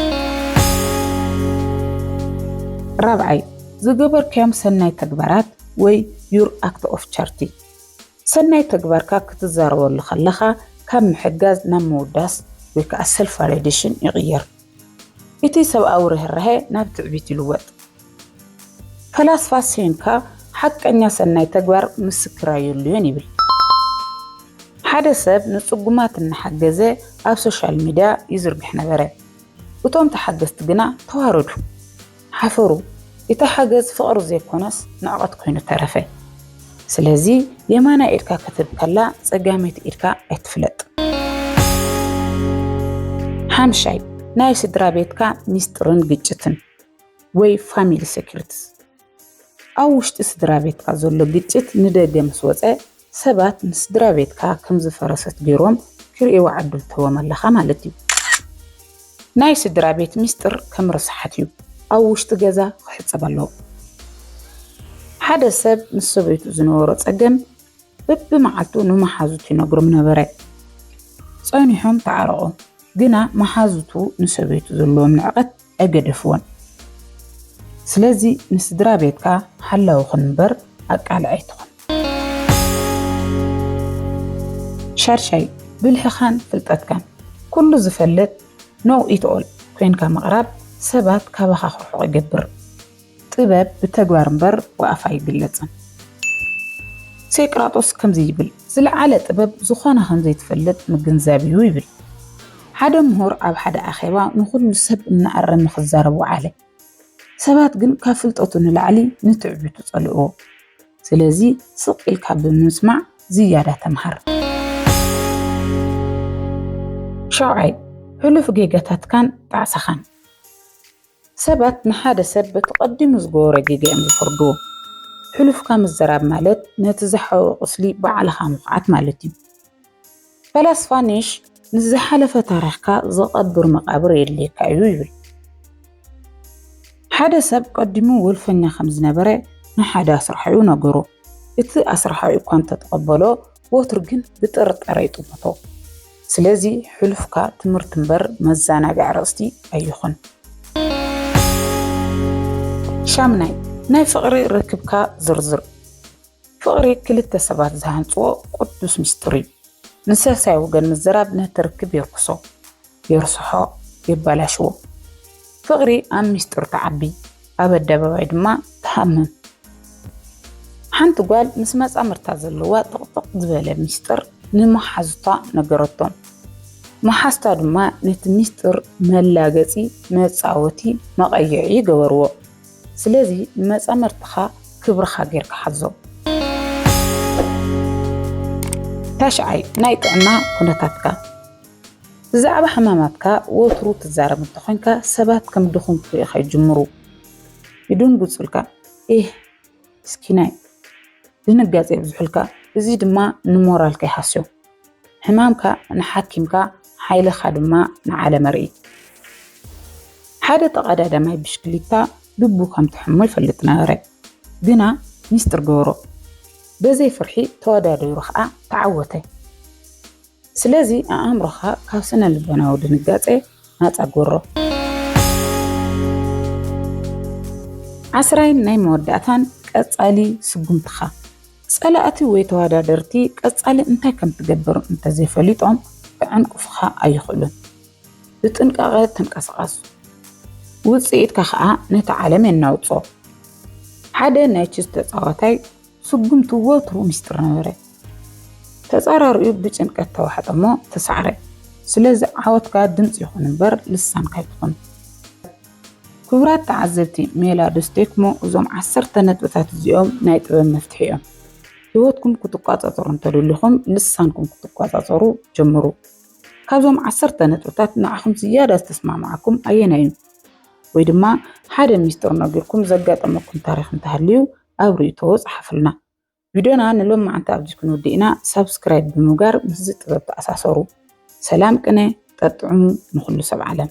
ራብዓይ፣ ዝገበርካዮም ሰናይ ተግባራት ወይ your act of charity ሰናይ ተግባርካ ክትዛረበሉ ከለኻ ካብ ምሕጋዝ ናብ ምውዳስ ወይ ከኣ ሰልፍ ቫሊዴሽን ይቕየር። እቲ ሰብኣዊ ርህራሄ ናብ ትዕቢት ይልወጥ። ፈላስፋ ሴንካ ሓቀኛ ሰናይ ተግባር ምስክር ኣየድልዮን ይብል። ሓደ ሰብ ንጽጉማት እናሓገዘ ኣብ ሶሻል ሚድያ ይዝርግሕ ነበረ። እቶም ተሓገዝቲ ግና ተዋረዱ። ሓፈሩ ኢቲ ሓገዝ ፍቅሪ ዘይኮነስ ንዕቀት ኮይኑ ተረፈ ስለዚ የማናይ ኢድካ ክትህብ ከላ ጸጋመይቲ ኢድካ ኣይትፍለጥ ሓምሻይ ናይ ስድራ ቤትካ ሚስጥርን ግጭትን ወይ ፋሚሊ ሰኪሪትስ ኣብ ውሽጢ ስድራ ቤትካ ዘሎ ግጭት ንደገ ምስ ወጸ ሰባት ንስድራ ቤትካ ከም ዝፈረሰት ገይሮም ክርእይዋ ዕድል ትህቦም ኣለኻ ማለት እዩ። ናይ ስድራ ቤት ሚስጥር ከም ረሳሓት እዩ፣ ኣብ ውሽጢ ገዛ ክሕጸብ ኣለዎ። ሓደ ሰብ ምስ ሰበይቱ ዝነበሮ ጸገም በብመዓልቱ ንመሓዙቱ ይነግሮም ነበረ። ጸኒሖም ተዓረቑ፣ ግና መሓዙቱ ንሰበይቱ ዘለዎም ንዕቀት ኣይገደፍዎን ስለዚ ንስድራቤትካ ሓላዊ ኩን እምበር ኣቃልዕ ኣይትኹን። ሻድሻይ ብልሕኻን ፍልጠትካን ኩሉ ዝፈልጥ Know It All ኮይንካ ምቕራብ ሰባት ካባኻ ክርሕቑ ይገብር። ጥበብ ብተግባር እምበር ብኣፍ ኣይግለጽን። ሴቅራጦስ ከምዚ ይብል፣ ዝለዓለ ጥበብ ዝኾነ ከም ዘይትፈልጥ ምግንዛብ እዩ ይብል። ሓደ ምሁር ኣብ ሓደ ኣኼባ ንኹሉ ሰብ እናኣረመ ክዛረብ ወዓለ። ሰባት ግን ካብ ፍልጠቱ ንላዕሊ ንትዕቢቱ ጸልእዎ። ስለዚ ስቕ ኢልካ ብምስማዕ ዝያዳ ተምሃር። ሻውዓይ፣ ሕሉፍ ጌጋታትካን ጣዕሳኻን። ሰባት ንሓደ ሰብ በቲ ቀዲሙ ዝገበሮ ጌጋ እዮም ዝፈርዱ። ሕሉፍካ ምዝራብ ማለት ነቲ ዝሓወ ቁስሊ ባዕልኻ ምኹዓት ማለት እዩ። ፈላስፋ ኒሽ ምስ ዝሓለፈ ታሪኽካ ዝቐብር መቓብር የድልየካ እዩ ይብል። ሓደ ሰብ ቀዲሙ ወልፈኛ ከም ዝነበረ ንሓደ ኣስራሒኡ ነገሮ። እቲ ኣስራሒኡ እኳ እንተተቐበሎ፣ ወትሩ ግን ብጥርጣረ ይጥምቶ። ስለዚ ሕሉፍካ ትምህርቲ እምበር መዘናግዒ ኣርእስቲ ኣይኹን። ሻምናይ ናይ ፍቕሪ ርክብካ ዝርዝር ፍቕሪ ክልተ ሰባት ዝሃንፅዎ ቅዱስ ምስጢር እዩ። ንሰልሳይ ወገን ምዝራብ ነቲ ርክብ የርክሶ። የርስሖ የባላሽዎ ፍቅሪ ኣብ ሚስጥር ትዓቢ ኣብ ኣደባባይ ድማ ትሃምም ሓንቲ ጓል ምስ መጻምርታ ዘለዋ ጥቕጥቕ ዝበለ ሚስጥር ንመሓዙታ ነገረቶም መሓዝታ ድማ ነቲ ሚስጥር መላገጺ መጻወቲ መቐይዒ ገበርዎ ስለዚ ንመጻምርትኻ ክብርኻ ጌርካ ሓዞም ታሽዓይ ናይ ጥዕና ኩነታትካ ብዛዕባ ሕማማትካ ወትሩ ትዛረብ እንተኾይንካ፣ ሰባት ከም ድኹም ክርእዩኻ ይጅምሩ። ይድንግጹልካ፣ ኤህ ምስኪናይ፣ ድንጋጸ የብዝሑልካ፣ እዚ ድማ ንሞራልካ ይሃስዮ። ሕማምካ ንሓኪምካ፣ ሓይልኻ ድማ ንዓለም ኣርኢ። ሓደ ተቐዳዳማይ ብሽክሊታ ልቡ ከም ትሕሞ ይፈልጥ ነበረ፣ ግና ሚስጥር ገበሮ። በዘይ ፍርሒ ተወዳዲሩ ከኣ ተዓወተ። ስለዚ ኣእምሮኻ ካብ ስነ ልቦናዊ ድንጋጸ ናጻ ግበሮ። ዓስራይን ናይ መወዳእታን ቀጻሊ ስጉምትኻ ጸላእቲ ወይ ተወዳደርቲ ቀጻሊ እንታይ ከም ትገብር እንተዘይፈሊጦም ክዕንቅፉኻ ኣይኽእሉን። ብጥንቃቐ ተንቀሳቐስ፣ ውጽኢትካ ከኣ ነቲ ዓለም የናውጾ። ሓደ ናይ ችዝ ተጻዋታይ ስጉምቱ ወትሩ ሚስጥር ነበረ። ተጻራሪኡ ብጭንቀት ተዋሕጠ እሞ ተሳዕረ። ስለዚ ዓወትካ ድምጺ ይኹን እምበር ልሳንካ ኣይትኹን። ክቡራት ተዓዘብቲ ሜላ ዶስ ቴክሞ እዞም ዓሰርተ ነጥብታት እዚኦም ናይ ጥበብ መፍትሒ እዮም። ህይወትኩም ክትቋጻጸሩ እንተደሊኹም ልሳንኩም ክትቋጻጸሩ ጀምሩ። ካብዞም ዓሰርተ ነጥብታት ንዓኹም ዝያዳ ዝተስማማዓኩም ኣየናይ እዩ? ወይ ድማ ሓደ ሚስጥር ነጊርኩም ዘጋጠመኩም ታሪኽ እንተሃልዩ ኣብ ርእይቶ ጸሓፉልና። ቪድዮና ንሎማዓንቲ ኣብዚ ክንውድእ ኢና ሳብስክራይብ ብምውጋር ምስዚ ጥበብ ተኣሳሰሩ። ሰላም ቅነ ጠጥዑሙ ንኹሉ ሰብ ዓለም።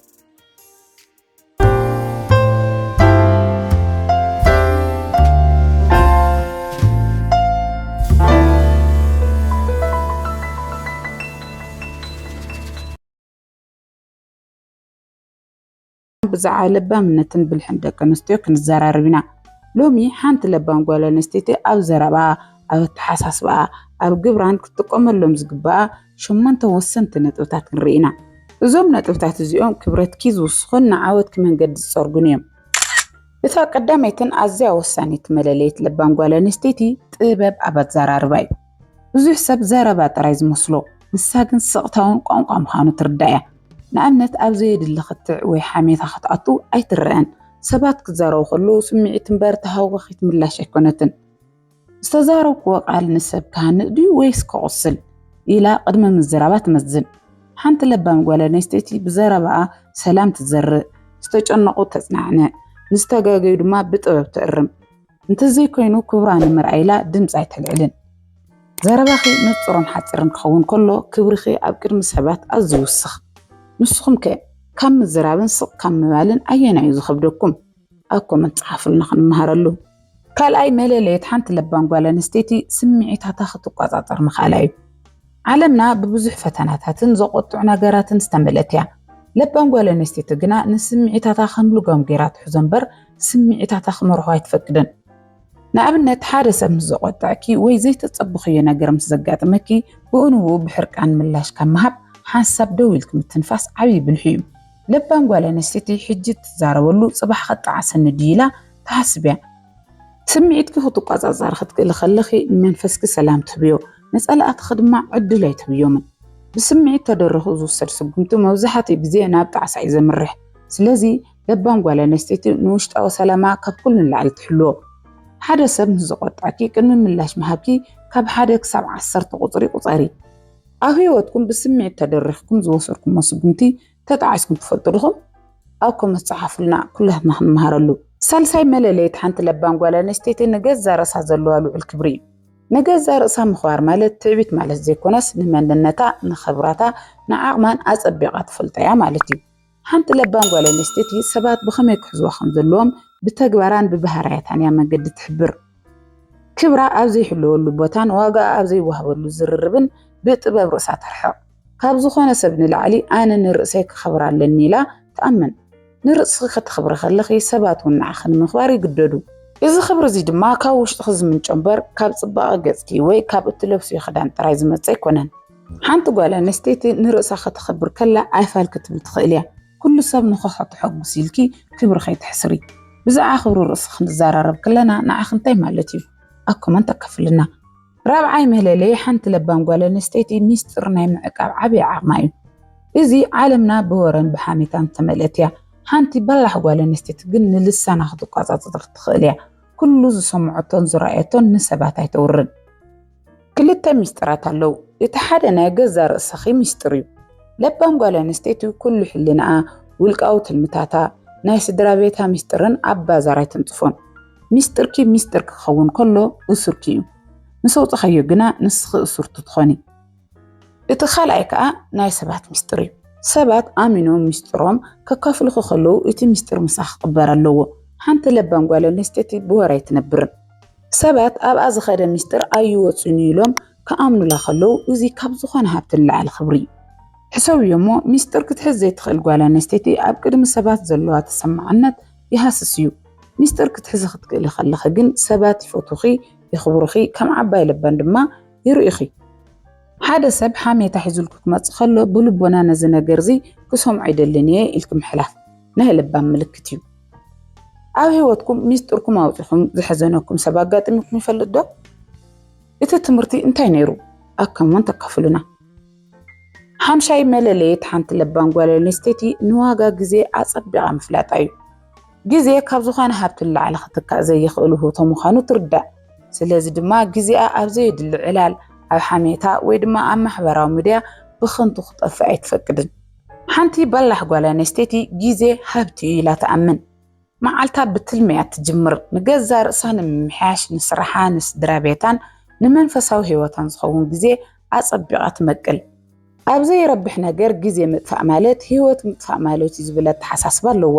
ብዛዕባ ለባምነትን ብልሕን ደቂ ኣንስትዮ ክንዘራረብ ኢና። ሎሚ ሓንቲ ለባም ጓል ኣንስተይቲ ኣብ ዘረባኣ፣ ኣብ ኣተሓሳስባኣ፣ ኣብ ግብራን ክትጥቀመሎም ዝግባኣ ሸሞንተ ወሰንቲ ነጥብታት ክንርኢ ኢና። እዞም ነጥብታት እዚኦም ክብረትኪ ዝውስኹን ንዓወትኪ መንገዲ ዝጸርጉን እዮም። እታ ቀዳመይትን ኣዝያ ወሳኒት መለለዪት ለባም ጓል ኣንስተይቲ ጥበብ ኣብ ኣዘራርባ እዩ። ብዙሕ ሰብ ዘረባ ጥራይ ዝመስሎ፣ ንሳ ግን ስቕታውን ቋንቋ ምዃኑ ትርዳእ እያ። ንኣብነት ኣብ ዘየድሊ ክትዕ ወይ ሓሜታ ክትኣቱ ኣይትረኣን። ሰባት ክዛረቡ ከለዉ ስምዒት እምበር ተሃዋኺት ምላሽ ኣይኮነትን። ዝተዛረብክዎ ቃል ንሰብ ክሃንጽ ድዩ ወይስ ከቑስል? ኢላ ቅድሚ ምዝራባ ትመዝን። ሓንቲ ለባም ጓል ኣንስተይቲ ብዘረባኣ ሰላም ትዘርእ፣ ዝተጨነቑ ተጽናዕንዕ፣ ንዝተጋገዩ ድማ ብጥበብ ትእርም። እንተዘይኮይኑ ክብራ ንምርኣይ ኢላ ድምፂ ኣይተልዕልን። ዘረባኺ ንፁርን ሓፂርን ክኸውን ከሎ ክብርኺ ኣብ ቅድሚ ሰባት ኣዝዩ ይውስኽ። ንስኹም ከ ካብ ምዝራብን ስቕ ካብ ምባልን ኣየናይ እዩ ዝኸብደኩም? ኣብ ኮመንት ፀሓፉልና ክንመሃረሉ። ካልኣይ መለለየት ሓንቲ ለባም ጓል ኣንስተይቲ ስምዒታታ ክትቋፃፀር ምኽኣላ እዩ። ዓለምና ብብዙሕ ፈተናታትን ዘቖጥዑ ነገራትን ዝተመልአት እያ። ለባም ጓል ኣንስተይቲ ግና ንስምዒታታ ከም ልጓም ገይራ ትሕዞ እምበር ስምዒታታ ክመርሖ ኣይትፈቅድን። ንኣብነት ሓደ ሰብ ምስ ዘቖጠዐኪ ወይ ዘይተጸበኽዮ ነገር ምስ ዘጋጥመኪ ብኡንብኡ ብሕርቃን ምላሽ ካብ ምሃብ ሓንሳብ ደው ኢልኪ ምትንፋስ ዓቢ ብልሒ እዩ። ለባም ጓል ኣንስተይቲ ሕጂ እትዛረበሉ ጽባሕ ከጣዕሰኒ ድዩ ኢላ ትሓስብ እያ። ስምዒትኪ ክትቆጻጸሪ ክትክእሊ ከለኺ ንመንፈስኪ ሰላም ትህብዮ፣ ንጸላእትኺ ድማ ዕድል ኣይትህብዮምን። ብስምዒት ተደሪኹ ዝውሰድ ስጉምቲ መብዛሕትኡ ግዜ ናብ ጣዕሳ እዩ ዘምርሕ። ስለዚ ለባም ጓል ኣንስተይቲ ንውሽጣዊ ሰላማ ካብ ኩሉ ንላዕሊ ትሕልዎ። ሓደ ሰብ ምስ ዘቖጥዐኪ ቅድሚ ምላሽ ምሃብኪ ካብ ሓደ ክሳብ ዓሰርተ ቁጽሪ ቁጸሪ። ኣብ ህይወትኩም ብስምዒት ተደሪኽኩም ዝወሰድኩሞ ስጉምቲ ተጣዒስኩም ትፈልጡ ዲኹም? ኣብ ኮመንት ጸሓፉልና ኩላትና ክንመሃረሉ። ሳልሳይ መለለይት ሓንቲ ለባም ጓል ኣንስተይቲ ንገዛ ርእሳ ዘለዋ ልዑል ክብሪ እዩ። ንገዛ ርእሳ ምኽባር ማለት ትዕቢት ማለት ዘይኮነስ ንመንነታ፣ ንኽብራታ፣ ንዓቕማን ኣጸቢቓ ትፈልጦ እያ ማለት እዩ። ሓንቲ ለባም ጓል ኣንስተይቲ ሰባት ብኸመይ ክሕዝዋ ከም ዘለዎም ብተግባራን ብባህርያታን እያ መንገዲ ትሕብር። ክብራ ኣብ ዘይሕለወሉ ቦታን ዋጋኣ ኣብ ዘይወሃበሉ ዝርርብን ብጥበብ ርእሳ ተርሕቕ። ካብ ዝኾነ ሰብ ንላዕሊ ኣነ ንርእሰይ ከኸብር ኣለኒ ኢላ ትኣምን። ንርእስኺ ከተኽብሪ ከለኺ ሰባት እውን ንዓኺ ንምኽባር ይግደዱ። እዚ ክብሪ እዚ ድማ ካብ ውሽጥኺ ዝምንጮ እምበር ካብ ጽባቐ ገጽኪ ወይ ካብ እትለብስዮ ክዳን ጥራይ ዝመጽእ ኣይኮነን። ሓንቲ ጓል ኣንስተይቲ ንርእሳ ከተኽብር ከላ ኣይፋል ክትብል ትኽእል እያ። ኩሉ ሰብ ንኸሖ ተሐጉስ ኢልኪ ክብሪ ከይተሕስሪ። ብዛዕባ ክብሪ ርእሲ ክንዛራረብ ከለና ንዓኺ እንታይ ማለት እዩ? ኣብ ኮመንት ኣካፍልልና። ራብዓይ መለለዪ ሓንቲ ለባም ጓል ኣንስተይቲ ሚስጢር ናይ ምዕቃብ ዓቢ ዓቕማ እዩ። እዚ ዓለምና ብወረን ብሓሜታን ዝተመልአት እያ። ሓንቲ በላሕ ጓል ኣንስተይቲ ግን ንልሳና ክትቆጻጸር ትኽእል እያ። ኩሉ ዝሰምዖቶን ዝረኣየቶን ንሰባት ኣይተውርን። ክልተ ሚስጥራት ኣለው እቲ ሓደ ናይ ገዛ ርእስኺ ሚስጥር እዩ ለባም ጓል ኣንስተይቲ ኩሉ ሕልናኣ ውልቃዊ ትልምታታ ናይ ስድራ ቤታ ሚስጥርን ኣብ ባዛር ኣይተንጽፎን ሚስጥርኪ ሚስጥር ክኸውን ከሎ እሱርኪ እዩ ምስ ኣውጽኻዮ ግና ንስኺ እሱርቲ ትኾኒ እቲ ካልኣይ ከዓ ናይ ሰባት ሚስጥር እዩ ሰባት ኣሚኖም ሚስጥሮም ከካፍልኹ ከለዉ እቲ ሚስጥር ምሳኺ ክቕበር ኣለዎ ሓንቲ ለባም ጓል ኣንስተይቲ ብወር ኣይትነብርን ሰባት ኣብኣ ዝኸደ ምስጢር ኣይወፅኡን እዩ ኢሎም ክኣምኑላ ከለዉ እዚ ካብ ዝኾነ ሃብቲ ንላዕሊ ክብሪ እዩ። ሕሰብዮ እሞ ምስጢር ክትሕዝ ዘይትኽእል ጓል ኣነስተይቲ ኣብ ቅድሚ ሰባት ዘለዋ ተሰማዕነት ይሃስስ እዩ። ምስጢር ክትሕዚ ክትክእሊ ከለኺ ግን ሰባት ይፈትዉኺ፣ የኽብሩኺ፣ ከም ዓባይ ለባም ድማ ይርእዩኺ። ሓደ ሰብ ሓሜታ ሒዙልኪ ክመፅእ ከሎ ብልቦና ነዚ ነገር እዚ ክሰምዖ ኣይደልን እየ ኢልኪ ምሕላፍ ናይ ለባም ምልክት እዩ። ኣብ ህይወትኩም ሚስጥርኩም ኣውጺኹም ዘሐዘነኩም ሰብ ኣጋጢሙኩም ይፈልጥ ዶ? እቲ ትምህርቲ እንታይ ነይሩ? ኣከምውን ተካፍሉና። ሓምሻይ መለለየት ሓንቲ ለባም ጓል ኣንስተይቲ ንዋጋ ግዜ ኣጸቢቓ ምፍላጣ እዩ። ግዜ ካብ ዝኾነ ሃብቲ ንላዕሊ ክትካእ ዘይኽእል ውህብቶ ምዃኑ ትርዳእ። ስለዚ ድማ ግዜኣ ኣብ ዘየድሊ ዕላል፣ ኣብ ሓሜታ ወይ ድማ ኣብ ማሕበራዊ ሚድያ ብኽንቱ ክጠፍእ ኣይትፈቅድን። ሓንቲ በላሕ ጓል ኣንስተይቲ ግዜ ሃብቲ እዩ ኢላ ትኣምን። መዓልታ ብትልሚ እያ እትጅምር፣ ንገዛእ ርእሳ ንምምሕያሽ፣ ንስራሓ፣ ንስድራ ቤታን ንመንፈሳዊ ህይወታን ዝኸውን ግዜ ኣጸቢቓ ትመቅል። ኣብ ዘይረብሕ ነገር ግዜ ምጥፋእ ማለት ህይወት ምጥፋእ ማለት እዩ ዝብል ኣተሓሳስባ ኣለዋ።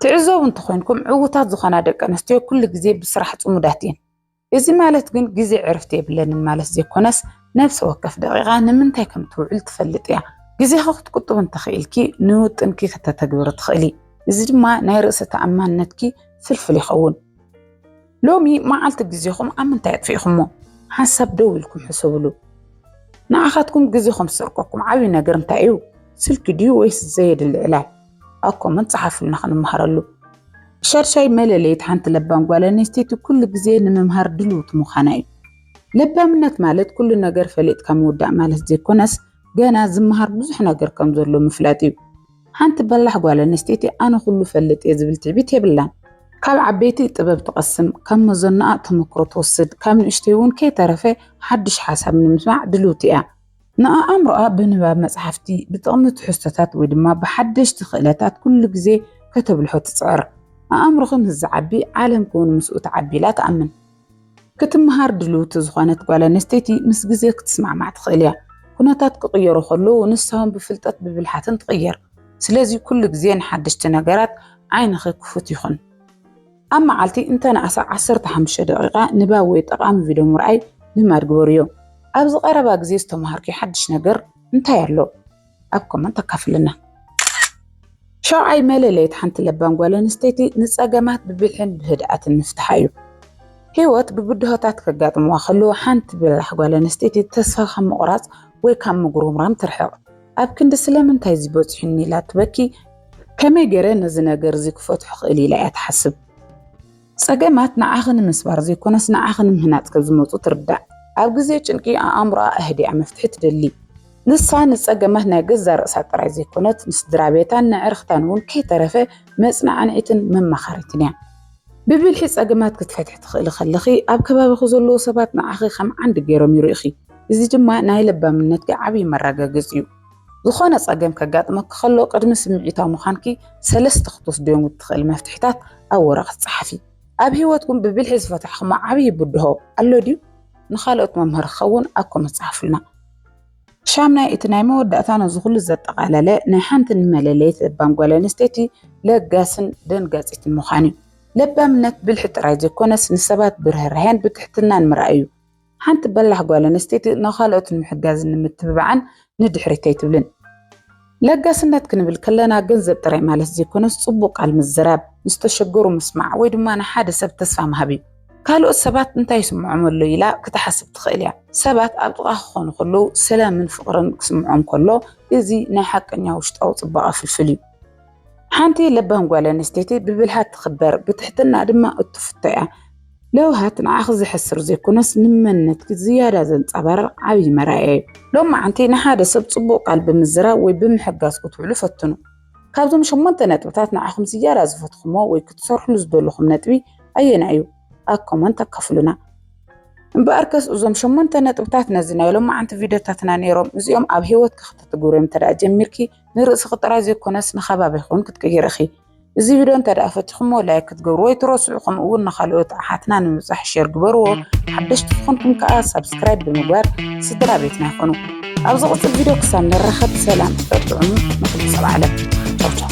ትዕዘቡ እንተኾይንኩም ዕዉታት ዝኾና ደቂ ኣንስትዮ ኩሉ ግዜ ብስራሕ ጽሙዳት እየን። እዚ ማለት ግን ግዜ ዕርፍቲ የብለንን ማለት ዘይኮነስ ነፍሲ ወከፍ ደቂቓ ንምንታይ ከም ትውዕል ትፈልጥ እያ። ግዜኺ ክትቁጥቢ እንተኽኢልኪ ንውጥንኪ ክተተግብሪ ትኽእሊ። እዚ ድማ ናይ ርእሰ ተኣማንነትኪ ፍልፍል ይኸውን። ሎሚ መዓልቲ ግዜኹም ኣብ ምንታይ ኣጥፊእኹሞ? ሓንሳብ ደው ኢልኩም ሕሰብሉ። ንዓኻትኩም ግዜኹም ዝሰርቀኩም ዓብዪ ነገር እንታይ እዩ? ስልኪ ድዩ ወይስ ዘየድሊ ዕላል? ኣብ ኮመንት ጸሓፉልና ክንመሃረሉ። ሻድሻይ መለለይት ሓንቲ ለባም ጓል ኣንስተይቲ ኩሉ ግዜ ንምምሃር ድልውቲ ምዃና እዩ። ለባምነት ማለት ኩሉ ነገር ፈሊጥካ ምውዳእ ማለት ዘይኮነስ ገና ዝመሃር ብዙሕ ነገር ከም ዘሎ ምፍላጥ እዩ። ሓንቲ በላሕ ጓል ኣንስተይቲ ኣነ ኩሉ ፈልጥ እየ ዝብል ትዕቢት የብላን። ካብ ዓበይቲ ጥበብ ትቐስም፣ ካብ መዘናኣ ተመክሮ ትወስድ፣ ካብ ንእሽተይ እውን ከይተረፈ ሓድሽ ሓሳብ ንምስማዕ ድልውቲ እያ። ንኣእምሮኣ ብንባብ መጽሓፍቲ፣ ብጥቕሚ ትሕዝቶታት ወይ ድማ ብሓደሽቲ ክእለታት ኩሉ ግዜ ከተብልሖ ትጽዕር። ኣእምሮኺ ምስ ዝዓቢ ዓለምኪ እውን ምስኡ ትዓቢ ኢላ ትኣምን። ክትመሃር ድልውቲ ዝኾነት ጓል ኣንስተይቲ ምስ ግዜ ክትስማዕማዕ ትኽእል እያ። ኩነታት ክቕየሩ ከለዉ ንሳ እውን ብፍልጠት ብብልሓትን ትቕየር። ስለዚ ኩሉ ግዜ ንሓደሽቲ ነገራት ዓይንኺ ክፉት ይኹን። ኣብ መዓልቲ እንተነኣሰ ዓሰርተ ሓሙሽተ ደቒቓ ንባብ ወይ ጠቓሚ ቪድዮ ምርኣይ ልማድ ግበርዮ። ኣብዚ ቀረባ ግዜ ዝተመሃርክዮ ሓድሽ ነገር እንታይ ኣሎ? ኣብ ኮመንት ኣካፍልና። ሻውዓይ መለለይት ሓንቲ ለባም ጓል ኣንስተይቲ ንጸገማት ብብልሕን ብህድኣትን ምፍትሓ እዩ። ህይወት ብብድሆታት ከጋጥምዋ ከለዉ ሓንቲ በላሕ ጓል ኣንስተይቲ ተስፋ ካብ ምቑራጽ ወይ ካብ ምጉርምራም ትርሕቕ። ኣብ ክንዲ ስለምንታይ እዚ በጺሑኒ ኢላ ትበኪ፣ ከመይ ገይረ ነዚ ነገር እዚ ክፈትሖ እኽእል ኢላ እያ ትሓስብ። ጸገማት ንዓኺ ንምስባር ዘይኮነስ ንዓኺ ንምህናጽ ከም ዝመጹ ትርዳእ። ኣብ ግዜ ጭንቂ ኣእምሮኣ ኣህዲኣ መፍትሒ ትደሊ። ንሳ ንጸገማት ናይ ገዛእ ርእሳ ጥራይ ዘይኮነት ንስድራቤታን ንኣዕርኽታን እውን ከይተረፈ መጽናዕኒዒትን መማኻሪትን እያ። ብብልሒ ጸገማት ክትፈትሒ ትኽእሊ ከለኺ፣ ኣብ ከባቢኺ ዘለዉ ሰባት ንዓኺ ከም ዓንዲ ገይሮም ይርእዩኺ፣ እዚ ድማ ናይ ለባምነትኪ ዓብዪ መረጋገጺ'ዩ። ዝኾነ ጸገም ከጋጥመኪ ከሎ፣ ቅድሚ ስምዒታዊ ምዃንኪ ሰለስተ ክትወስድዮም እትኽእሊ መፍትሒታት ኣብ ወረቐት ጸሓፊ። ኣብ ህይወትኩም ብብልሒ ዝፈታሕክሞ ዓብዪ ብድሆ ኣሎ ድዩ? ንኻልኦት መምሃሪ ክኸውን ኣብ ኮመንት ጸሓፉልና። ሻምናይ እቲ ናይ መወዳእታ ነዚ ኩሉ ዘጠቓለለ ናይ ሓንቲ ንመለለይት ለባም ጓል ኣንስተይቲ ለጋስን ደንጋጺትን ምዃን እዩ። ለባምነት ብልሒ ጥራይ ዘይኮነስ ንሰባት ብርህራሄን ብትሕትናን ምርኣይ እዩ። ሓንቲ በላሕ ጓል ኣንስተይቲ ንኻልኦት ንምሕጋዝን ንምትብባዕን ንድሕሪት ኣይትብልን። ለጋስነት ክንብል ከለና ገንዘብ ጥራይ ማለት ዘይኮነስ ጽቡቕ ቃል ምዝራብ፣ ንዝተሸገሩ ምስማዕ ወይ ድማ ንሓደ ሰብ ተስፋ ምሃብ እዩ። ካልኦት ሰባት እንታይ ይስምዖም ኣሎ ኢላ ክትሓስብ ትኽእል እያ። ሰባት ኣብ ጥቓኻ ክኾኑ ከለዉ ሰላምን ፍቕርን ክስምዖም ከሎ እዚ ናይ ሓቀኛ ውሽጣዊ ጽባቐ ፍልፍል እዩ። ሓንቲ ለባም ጓል ኣንስተይቲ ብብልሃት ትኽበር፣ ብትሕትና ድማ እትፍቶ እያ። ለውሃት ንዓኺ ዘሕስር ዘይኮነስ ንመንነትኪ ዝያዳ ዘንጸባርቕ ዓብዪ መርኣያ እዩ። ሎም መዓንቲ ንሓደ ሰብ ጽቡቕ ቃል ብምዝራብ ወይ ብምሕጋዝ ክትውዕሉ ፈትኑ። ካብዞም ሸሞንተ ነጥብታት ንዓኹም ዝያዳ ዝፈትኹሞ ወይ ክትሰርሕሉ ዝደለኹም ነጥቢ ኣየናይ እዩ? ኣብ ኮመንት ኣካፍሉና። እምበኣርከስ እዞም ሸሞንተ ነጥብታት ነዚ ናይ ሎም መዓንቲ ቪድዮታትና ነይሮም። እዚኦም ኣብ ህይወትኪ ክተትግብርዮም እንተደኣ ጀሚርኪ ንርእስኺ ጥራይ ዘይኮነስ ንከባቢኺ እውን ክትቅይሪ ኢኺ። እዚ ቪድዮ እንተደኣ ፈቲኹሞ ላይክ ክትገብሩ ወይ ትረስዑ ከምኡ እውን ንካልኦት ኣሓትና ንምብፃሕ ሼር ግበርዎ ሓደሽቲ ዝኾንኩም ከዓ ሳብስክራይብ ብምግባር ስድራ ቤትና ይኾኑ ኣብ ዝቕፅል ቪድዮ ክሳብ ንራኸብ ሰላም ፅጥዕሙ ንኩሉ ሰብ ዓለም ቻውቻው